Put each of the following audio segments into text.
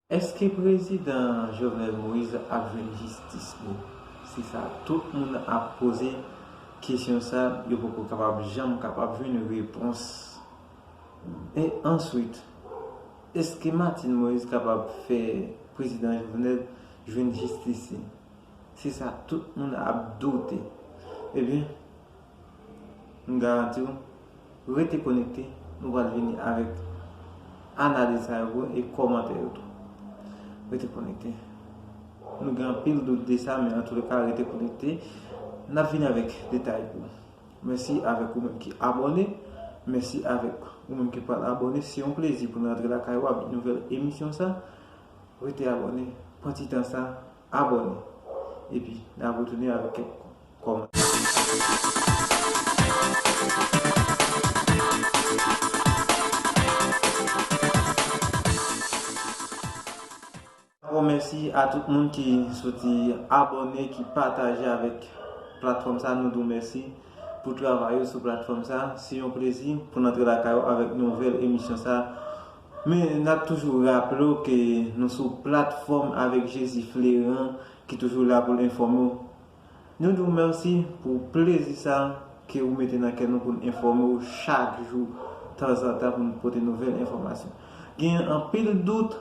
Eske prezidan Jovenel Moïse ap jwenn jistis li? Se sa tout moun ap poze kesyon sa yo poko kapab janm kapab jwenn repons. E answit, eske Martine Moïse kapab fè prezidan Jovenel jwenn jistis li? Se sa tout moun ap doute. Ebyen. M garanti w, rete konekte, nou pral vini avèk analiz sa yo pou ou e kòmantè yo tou. Rete konekte. Nou gen anpil dout de sa men antoulèka rete konekte, n ap vini avèk detay pou ou. Mèsi avèk ou menm ki abòne, mèsi avèk ou menm ki pral abòne. Se yon plezi pou n rantre lakay ou avèk nouvèl emisyon sa. Rete abòne, pran ti tan sa. Abòne epi nap retounen avèk kèk kòmantè. Dabò mèsi a tout moun ki soti abòne, ki pataje avèk platfòm sa, nou di w mèsi pou travay ou sou platfòm sa, se yon plezi pou n antre lakay ou avèk nouvèl emisyon sa. Men nap toujou raple w ke nou sou platfòm Avèk Jezi Fleran ki toujou la pou l enfòme w. Nou di w mèsi pou plezi sa ke ou mete nan kè nou pou n enfòme w chak jou, tanzantan pou n pote nouvèl enfòmasyon. Genyen anpil dout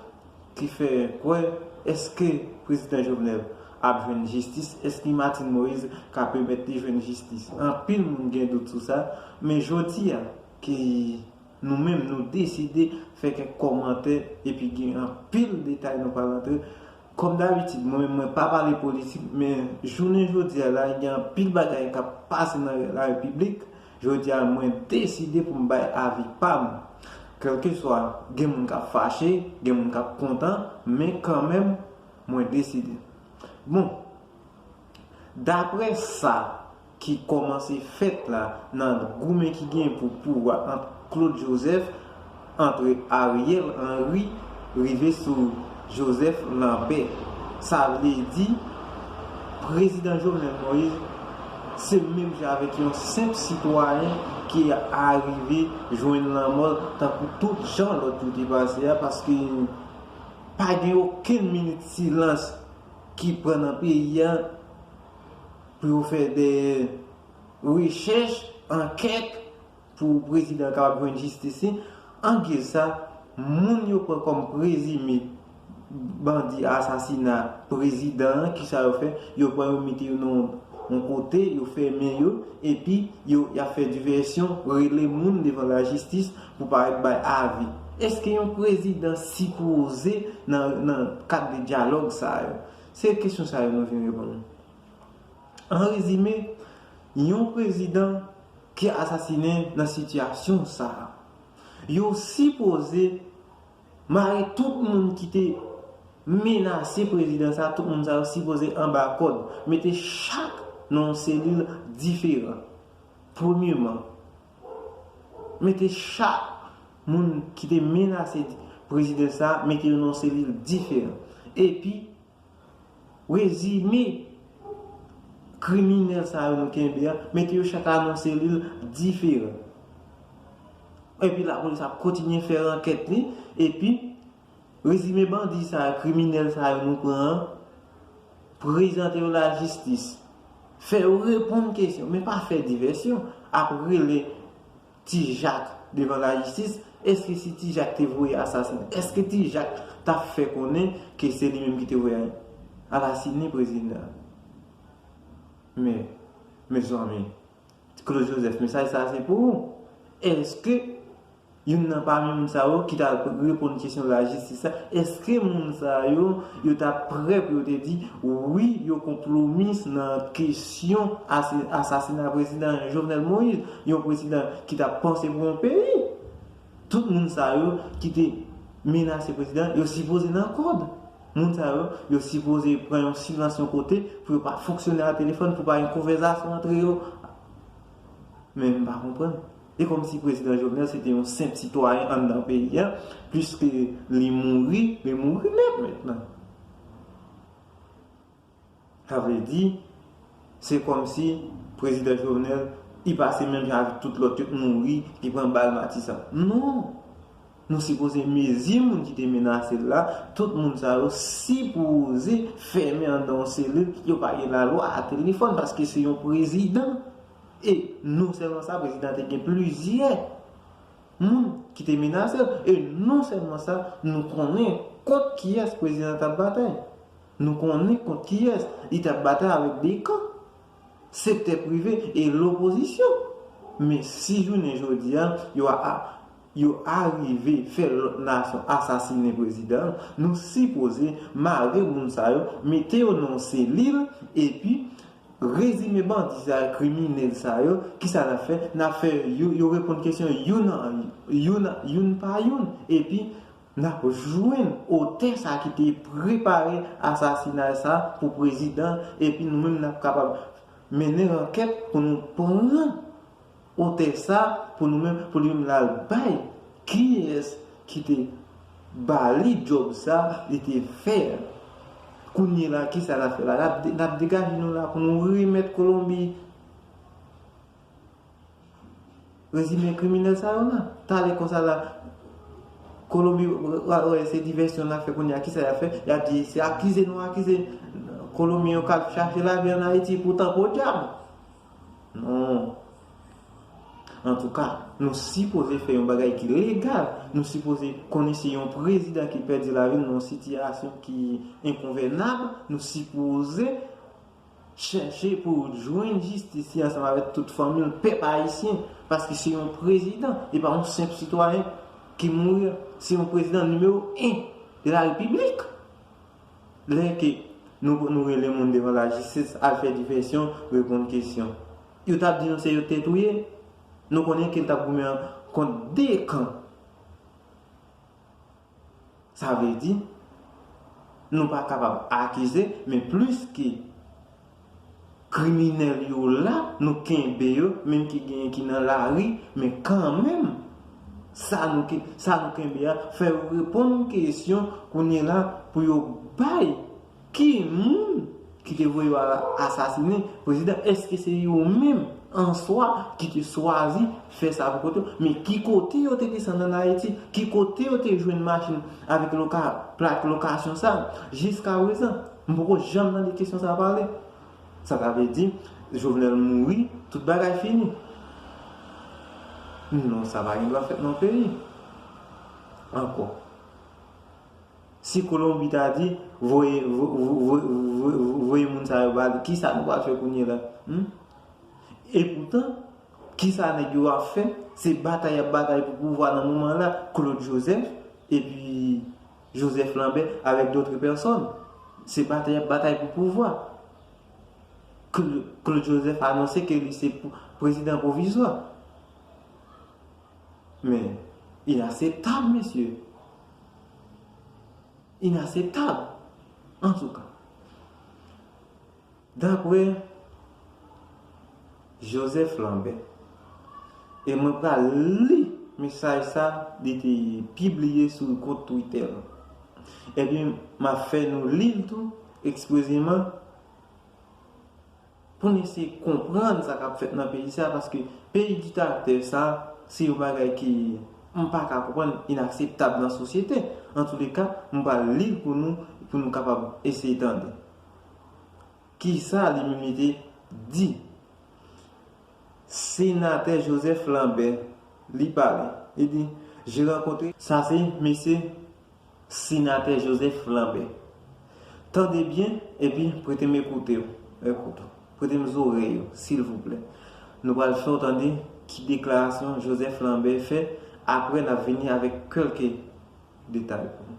ki fè kwè èske Prezidan Jovenel ap jwenn jistis, èske Martine Moise ka pèmèt li jwenn jistis. Anpil moun gen dout sou sa, men jodi a ki Nou menm nou deside fè kèk kòmantè epi gen anpil detay nou pral antre. Kòm dabitid mwen menm mwen pa pale politik men jounen jodi a la gen anpil bagay k ap pase nan larepiblik, jodi a mwen deside pou m bay avi pa m. Kèlkeswa gen moun k ap fache, gen moun k ap kontan men kanmenm mwen deside. Bon! Daprè sa ki kòmanse fèt la nan goumen ki genyen pou pouvwa ant Claude Joseph, antre Ariel Henry rive sou Joseph Lambert, sa vle di Prezidan Jovenel Moïse se menm jan avèk yon senp sitwayen ki arive jwenn lanmò l tankou tout jan lòt yo te pase a paske pa gen okenn minit silans. ki pran nan peyi a pou yo fè de rechèch, ankèt pou prezidan kapab jwenn jistis li. An giz sa, moun yo pran kòm prezime bandi asasina prezidan an, kisa yo fè? Yo pran yo mete yo nan yon kote, yo fèmen yo, epi yo ap fè divèsyon, rele moun devan lajistis. Pou parèt bay avi. Eske yon prezidan sipoze nan kad de dyalòg sa yo? Se kesyon sa yo nou vin reponn. An rezime, yon prezidan ki asasinen nan sitiyasyon sa a, yo sipoze mare tout moun ki te menase prezidan sa a, tout moun sa yo sipoze anba kòd, mete chak nan yon selil diferan. Premyeman, Mete chak Moun ki te menase Prezidan sa mete yo nan yon selil diferan epi Rezime Kriminèl sa yo nou kenbe a mete yo chak nan yon selil diferan epi lapolis ap kontinye fè ankèt li epi Rezime bandi sa yo, kriminèl sa yo nou pran an, prezante yo lajistis, fè yo reponn kesyon, men pa fè divèsyon, ap rele Ti Jak devan lajistis, èske si Ti Jak te voye asasen, èske Ti Jak t ap fè konnen ke se li menm ki te voye alasinen prezidan an? Men, mezanmi, Claude Joseph, mesaj sa a se pou ou, èske. Youn nan pami moun sa yo ki ta reponn kesyon lajistis la, èske moun sa yo, yo ta prè pou yo te di, wi, yo konplomis nan kesyon asasina prezidan Jovenel Moïse, yon prezidan ki t ap panse pou yon peyi? Tout moun sa yo ki te menase prezidan an, yo sipoze nan kòd. Moun sa yo, yo sipoze pran yon silans yon kote pou yo pa fonksyone a telefòn, pou pa gen konvèzasyon antre yo. Men m pa konprann. E kòmsi prezidan Jovenel se te yon senp sitwayen anndan peyi a, piske li mouri, li mouri nèt mentnan. Sa vle di, se kòmsi prezidan Jovenel, li pase menm jan avèk tout lòt yo, li mouri, li pran bal matisan. Non! Nou sipoze mezi moun ki te menase l la, tout moun sa yo sipoze fèmen andan yon selil, yo pa gen lalwa a telefòn paske se yon prezidan e non sèlman sa prezidan te gen plizyè moun ki te menase l e non sèlman sa nou konnen kont kiyès prezidan an t ap batay, nou konnen kont kiyès li t ap batay avèk 2 kan, sektè prive e lopozisyon men si jounen jodi a yo a. yo arive fè lòt nasyon asasine prezidan l, nou sipoze mare moun sa yo, mete yo nan yon selil, epi rezime bandi sa yo, kriminèl sa yo, ki sa n ap fè? N ap fè yo reponn kesyon youn an youn, youn pa youn, epi n ap jwenn otè sa ki te prepare asasinay sa pou prezidan, epi nou menm n ap kapab mennen ankèt pou nou pran. Otè sa pou nou menm pou li menm lal bay kiyes ki te Bali job sa li te fè a kounye la kisa la fè la nap degaje nou la pou nou remèt kolonbi rezime kriminèl sa yo la talè konsa la kolonbi pral wè se divèsyon nap fè kounye a kisa yap fè yap di se akize nou akize kolonbi yo kap chache lavi an ayiti poutan podyab. Non. Antouka, nou sipoze fè yon bagay ki legal. Nou sipoze konnen se yon prezidan ki pèdi lavi l nan yon sitiyasyon ki enkonvènab. Nou sipoze chèche pou l jwenn jistis li ansanm avèk tout fanmi l, pèp ayisyen. Paske se yon prezidan, e pa yon senp sitwayen ki mouri. Se yon prezidan nimewo 1 lalpiblik. Lè ke nou pou nou rele moun devan lajistis al fè divèsyon, reponn kesyon. Yo tap di nou se yo te touye? Nou konnen ke l tap goumen an kont 2 kan. Sa vle di, nou pa kapab akize, men plis ke. Kriminel yo la nou kenbe yo menm ki genyen ki nan lari men kanmenm sa nou sa nou kenbe a fè yo reponn kesyon kounyela pou yo bay ki moun ki te voye yo al asasine prezidan eske se yo menm answa ki te swazi fè sa pou kont yo men ki kote yo te desann an ayiti ki kote yo te jwenn machin avèk plak lokasyon sa jiska prezan. M poko janm tande kesyon sa pale. Sa ta vle di Jovenel mouri tout bagay fini? Non sa pa gen dwa fèt nan peyi ankò. Si kolonbi ta di voye voye moun sa yo ba li kisa nou pral fè kounye la humm? E poutan kisa nèg yo ap fè se batay yap batay pou pouvwa nan moman la Claude Joseph epi Joseph Lambert avec d'autres personnes. Se batay, batay pou pouvwa. Claude Joseph anonse ke li se prezidan pwovizwa. Men, inaseptab, mesye. Inaseptab. Antouka. Dapre Joseph Lambert, e mwen pral li mesaj sa li te pibliye sou kont twitè l, epi m ap fè nou li l tou eksprezeman pou n eseye konprann sa k ap fèt nan peyi sa, paske peyi diktaktè sa, se yon bagay ke m pa ka konprann, inakseptab nan sosyete. Antouleka, m pral li l pou nou, pou nou kapab eseye tande. Kisa liminite di? Senatè Joseph Lambert li pale, li di, J'ai rencontré. Sa se mesye Senatè Joseph Lambert. Tande byen epi prete m ekoute w, ekout ou, prete m zorèy ou, silvouplè. Nou pral fè w tande ki deklarasyon Joseph Lambert fè, aprè n ap vini avèk kèlke detay pou nou.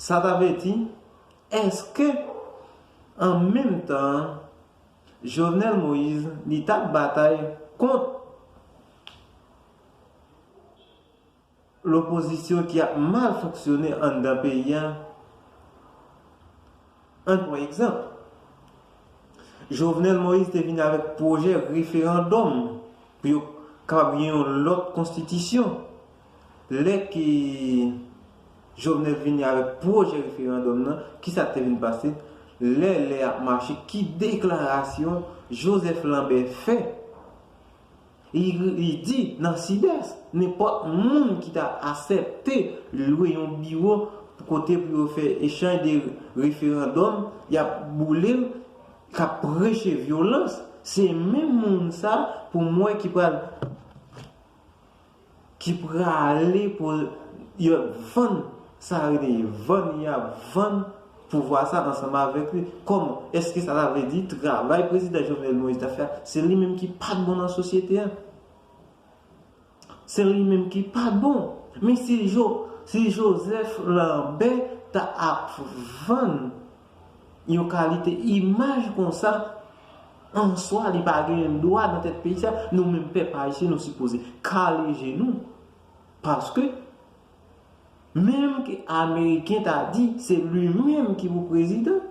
Sa ta vle di, èske an menm tan an, Jovenel Moïse li t ap batay kont lopozisyon ki ap mal fonksyone anndan peyi a Ann pran egzanp. Jovenel Moïse te vin avèk pwojè referandòm pou yo kapab gen yon lòt konstitisyon. Lè ke Jovenel vini avèk pwojè referandòm nan, ki sa k te vin pase? Lè lè ap mache, ki deklarasyon Joseph Lambert fè Li di, nan Sidès, nenpòt moun ki ta asèpte lwe yon biwo pou kote pou yo fè echanj de referandòm, y ap boule l, k ap preche vyolans, se menm moun sa pou m wè ki pral ki prale pou yo vann sa yo rele vann yo ap vann pouvwa sa ansanm avèk li kòman èske sa ta vle di travay prezidan Jovenel Moïse ta fè a se li menm ki pat bon nan sosyete a se li menm ki pat bon men si Joseph Lambert ta ap vann Yon kalite imaj konsa answa li pa gen dwa nan tèt peyi sa, nou menm pèp ayisyen nou sipoze kale je nou paske menm ke ameriken ta di se li menm ki pou prezidan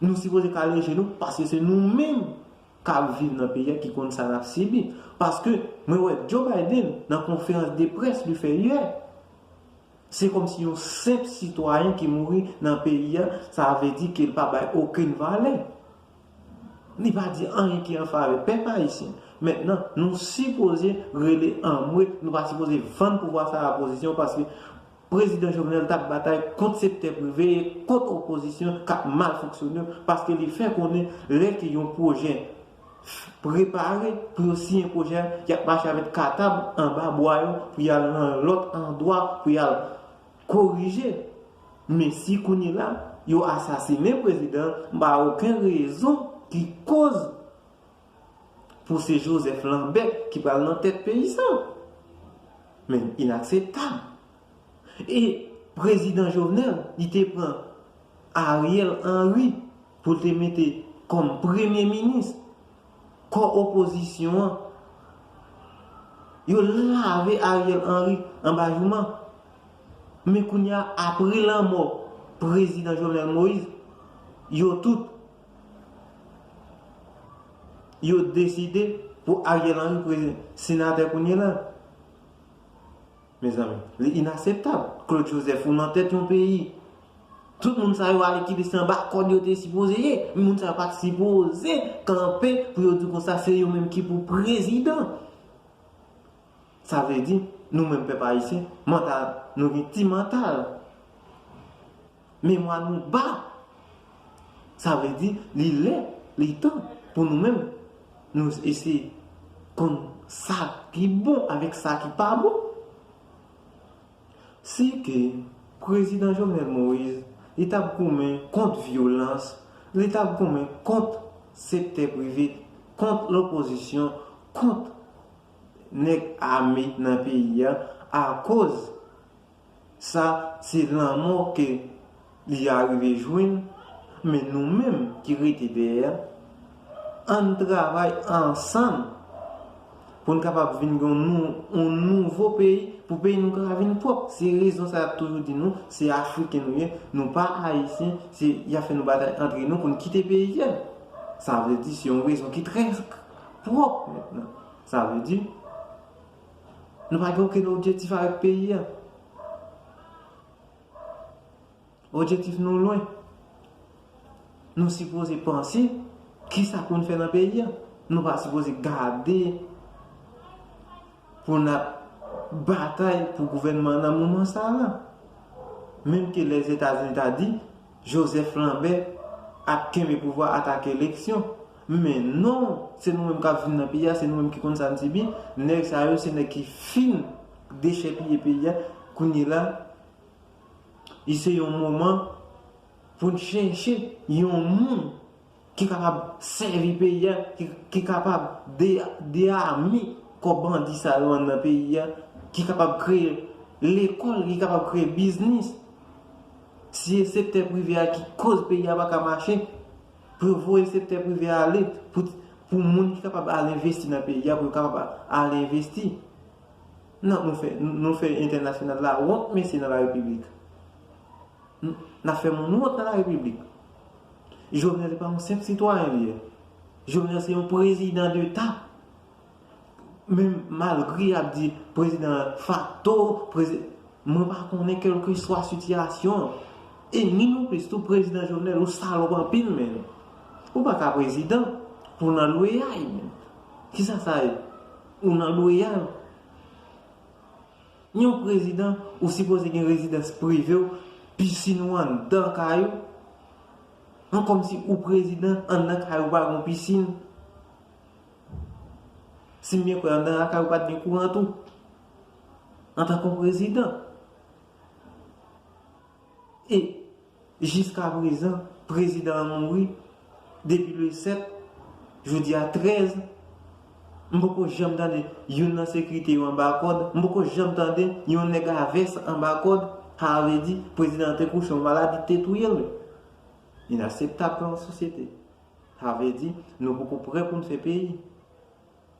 nou sipoze kale je nou paske se nou menm kap viv nan peyi a ki konn sa nap sibi paske mwen wè Joe Biden nan konferans de près li fè yè. Se kòmsi yon senp sitwayen ki mouri nan peyi a, sa vle di ke l pa bay okenn valè. Li pa di anyen ki an favè pèp ayisyen. Mentnan, nou sipoze rele anmwe, nou pa sipoze vann pouvwa sa a pozisyon paske Prezidan Jovenel t ap batay kont sektè prive, kont opozisyon k ap mal fonksyone paske li fè konnen lè ke yon pwojè prepare pou yo siyen pwojè a, y ap mache avèk katab anba bwa yo pou y al nan lòt andwa pou y al korije. Men si kounyela yo asasinen prezidan an, m pa wè oken rezon ki koz pou se Joseph Lambert ki pral nan tèt peyi sa. Men inakseptab! E prezidan Jovenel li te pran Ariel Henry pou l te mete kòm premye minis. Kò opozisyon an yo lave Ariel Henry anba jouman. Men kounye a apre lanmò prezidan Jovenel Moise yo tout yo deside pou Ariel Henry senatè kounye la. Mezanmi. Li inaseptab. Claude Joseph ou nan tèt yon peyi. Tout moun sa yo ale kite se anba kòd yo te sipoze ye. Moun sa yo pat sipoze kanpe pou yo di konsa se yo menm ki pou prezidan. Sa vle di nou menm pèp ayisyen mantal nou gen ti mantal. Memwa nou ba! Sa vle di, li lè, li tan pou nou menm nou eseye konn sa ki bon avèk sa ki pa bon. Si te Prezidan Jovenel Moïse, li t ap goumen kont vyolans, li t ap goumen kont sektè prive, kont lopozisyon, kont nèg ame nan peyi a, akoz Sa se lanmò ke li arive jwenn, men nou menm ki rete dèyè a, ann travay ansanm pou n kapab vin gen yon nouvo peyi, pou peyi nou ka vin pwòp. Se rezon sa y ap toujou di nou, se Afriken nou ye, nou pa Ayisyen, se y ap fè nou batay antre nou pou n kite peyi a. Sa vle di se yon rezon ki trè pwòp mentnan. Sa vle di, Nou pa gen okenn objetif avèk peyi an. Objetif nou lwen. Nou sipoze panse kisa pou n fè nan peyi an. Nou pa sipoze gade pou n ap batay pou gouvènman nan moman sa a. Menm ke Lèzetazini ta di. Joseph Lambert ap kenbe pouvwa atake eleksyon men non se nou menm kap vin nan peyi a se nou menm ki konn sa n sibi nèg sa yo se nèg ki fin dechèpiye peyi a kounye la li se yon moman pou n chèche yon moun ki kapab sèvi peyi a, ki kapab deyami kò bandi sa yo anndan peyi a, ki kapab kreye lekòl, ki kapab kreye biznis. Si e sektè prive a ki koz peyi a pa ka mache, pou yo voye sektè prive a ale, pou moun ki kapab al envesti nan peyi a, pou yo kapab al envesti. Non, nou fè entènasyonal la wont mesye nan la repiblik. N ap fè moun wont nan la repiblik. Jovenel se pa yon senp sitwayen li ye. Jovenel se yon prezidan de ta. Men malgre y ap di prezidan fakto, prezidan, mwen pa konnen kelke swa sitiyasyon an. E ni non plis tou prezidan Jovenel ou salop anpil menn. Ou pa ka prezidan pou nan lweyay menn. Kisa sa ye? Ou nan lweyay. Yon w prezidan ou sipoze gen rezidans prive w, piscine ou anndan kay ou, an kòmsi ou prezidan anndan kay ou pa gon piscine? Si m byen kwè anndan lakay ou pat gen kouran tou? Antan ke w prezidan. E Jiska prezan prezidan an mouri depi le 7 jodi a 13 m poko janm tande youn nan sekirite yo anba kòd m poko janm tande yon nèg a vès anba kòd sa vle di prezidan an te kouche yon maladi te touye l inaseptab pou yon sosyete sa vle di nou poko prè pou n fè peyi.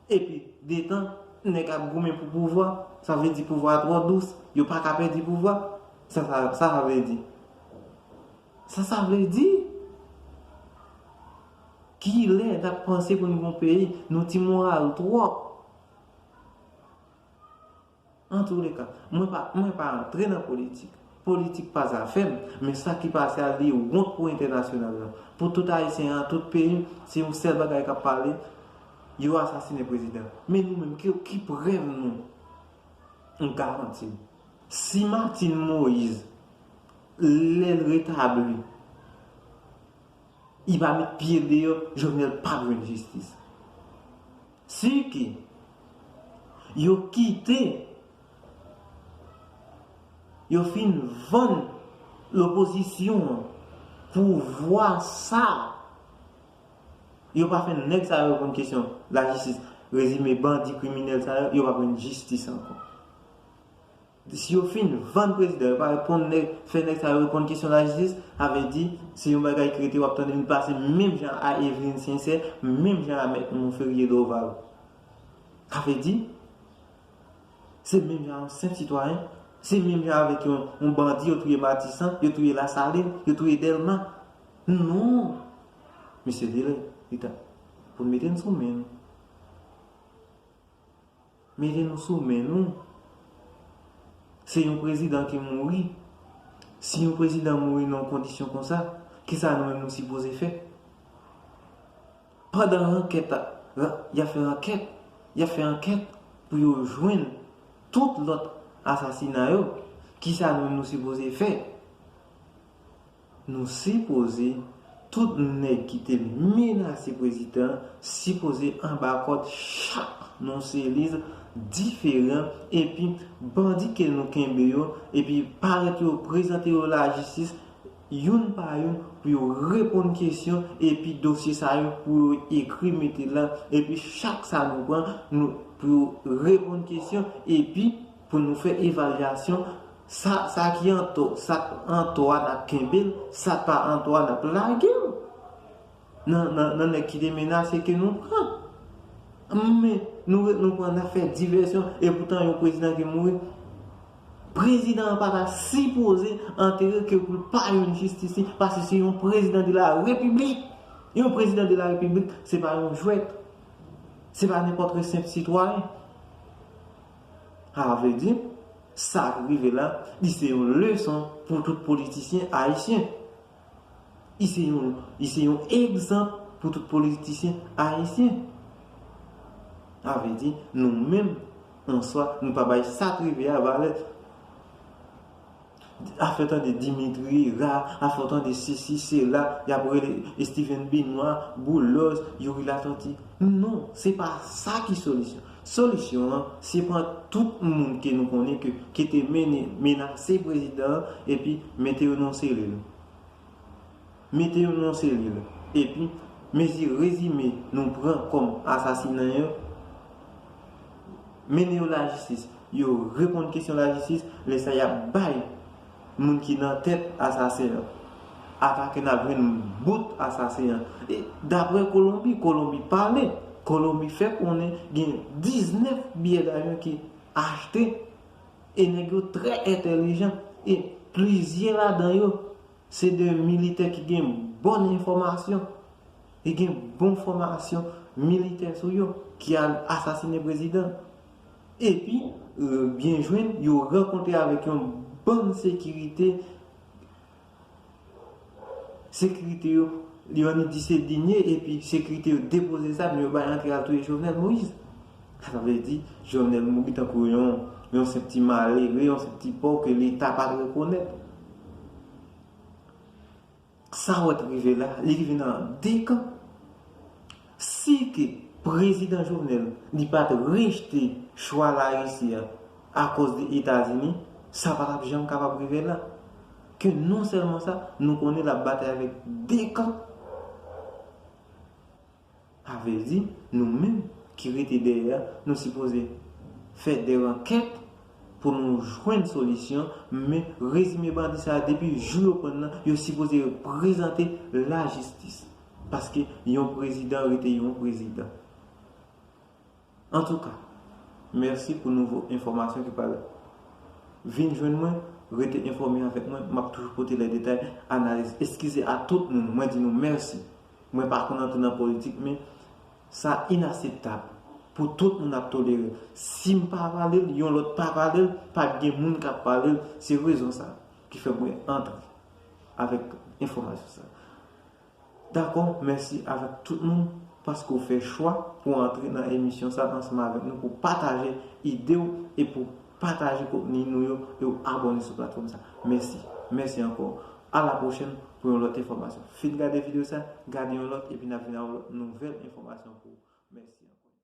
Epi, detan, nèg ap goumen pou pouvwa, sa vle di pouvwa a twò dous, yo pa ka pèdi pouvwa. Sa sa, sa sa vle di? Sa sa vle di? Ki lè n ap panse pou n gen yon peyi? Nou ti moral twòp. Antouleka, mwen pa mwen pa antre nan politik. Politik pa zafè m, men sa ki pase a li wont pou entènasyonal la. Pou tout Ayisyen an tout peyi, se yon sèl bagay k ap pale, yo asasinen prezidan. Men nou menm ki ki prèv nou? M garanti w, si Martine Moise lè l retabli li pa met pye l deyò, Jovenel p ap jwenn jistis. Si ke yo kite yo fin vann lopozisyon an pouvwa sa a, yo pa fè nèg sa yo reponn kesyon lajistis, rezime bandi kriminèl sa yo, yo pa jwenn jistis ankò. Si yo fin vann prezidan yo pa reponn nèg fè nèg sa yo reponn kesyon lajistis sa vle di se yon bagay ki rete wap tande li pase menm jan a Eveline Sincère menm jan a mèt Monferrier Dorval sa vle di se menm jan a yon senp sitwayen se menm jan avèk yon bandi yo touye Matisan yo touye Lasalin yo touye Dèlma non mesye li lè li tan pou nou mete n sou men nou. Mete nou sou men nou. Se yon prezidan ki mouri. Si yon prezidan mouri nan yon kondisyon konsa, kisa nou menm nou sipoze fè? Pandan rankèt a, y ap fè rankèt, y ap fè ankèt pou yo jwenn tout lòt asasina yo, kisa nou menm nou sipoze fè? Nou sipoze tout neg ki te menase prezidan sipoze anba kod chak nou se liv diferan epi bandi ke nou kenbe yo epi paret yo prezante yo la jistis youn pa youn pou yo reponn kesyon epi dosye sa yo pou yo ekri mete la epi chak sa nou pran nou pou yo reponn kesyon epi Pou nou fè evalyasyon, sa sa ki an tò, sa k an tò a n ap kenbe l, sa k pa an tò a n ap lage l nan nan nèg ki te menase ke nou pran. Men, nou ret nou pran n ap fè divèsyon epoutan yon prezidan ki mouri. Prezidan an pa ta sipoze antere ke pou l pa jwenn jistis li paske se yon prezidan de la repiblik. Yon prezidan de la repiblik se pa yon jwèt. Se pa nenpòtre senp sitwayen. Sa a vle di, sa ki rive la, li se yon leson pou tout politisyen ayisyen. Li se yon, li se yon egzanp pou tout politisyen ayisyen. Sa vle di, nou menm, an swa, nou pa bay sa ki rive a valè. A fè tande Dimitri, Ra, a fè w tande sesi, sela, y ap rele Estiven Benwa, Boulòs, Youri Latòti. Non, se pa sa ki solisyon. Solisyon an, se pran tout moun ke nou konnen ke ke te mennen menase prezidan an epi mete yo nan yon selil. Mete yo nan yon selil, epi mezi rezime nou pran kòm asasinen yo, mennen yo lajistis, yo reponn kesyon lajistis, lè sa y ap bay moun ki nan tèt asasen an. Atakè n ap jwenn bout asasen an. E daprè Kolonbi, Kolonbi pale, Kolonbi fè konnen gen 19 biyè davyon ki achte e nèg yo trè entèlijan e plizyè ladan yo Se 2 militè ki gen bon enfòmasyon, ki gen bon fòmasyon militè sou yo, ki al asasine prezidan. Epi, byen jwenn, yo rankontre avèk yon bann sekirite, sekirite yo, yo annik di se Digne, epi sekirite yo depoze zam, yo bay antre al touye Jovenel Moïse. Sa vle di, Jovenel mouri tankou yon senp ti malere, yon senp ti pòv ke Leta pa t rekonèt. Sa wè ki rive la, li rive nan de kan. Si ke Prezidan Jovenel li pa t rejte chwa Larisi a akòz de Etazini, sa pa t ap janm kapab rive la. Ke non sèlman sa, nou konnen l ap batay avèk de kan. Sa vle di, nou menm ki rete dèyè a, nou sipoze fè dè ankèt pou nou jwenn solisyon, men rezime bandi sa a depi jou yo prann nan, yo sipoze prezante lajistis. Paske yon prezidan rete yon prezidan. Antouka, mèsi pou nouvo enfòmasyon ki pral vin jwenn mwen, rete enfòme avèk mwen, map toujou pote lè detay, analiz, eskize a tout moun, mwen di nou mèsi, mwen pa konn antre nan politik men sa inaseptab pou tout moun ap tolere, sim pa palel yon lòt pa palel, pat gen moun kap palel, se rezon sa ki fè mwen antre avèk enfòmasyon sa. Dakò, mèsi avèk tout moun paske w fè chwa pou w antre nan emisyon sa ansanm avèk nou pou w pataje ide w e pou w pataje kontni nou yo e w abòne sou platfòm sa. Mèsi. Mèsi ankò. A la pwochèn pou yon lòt enfòmasyon. Fin gade videyo sa, gade yon lòt epi n ap vin avèk lòt nouvèl enfòmasyon pou ou. Mèsi ankò.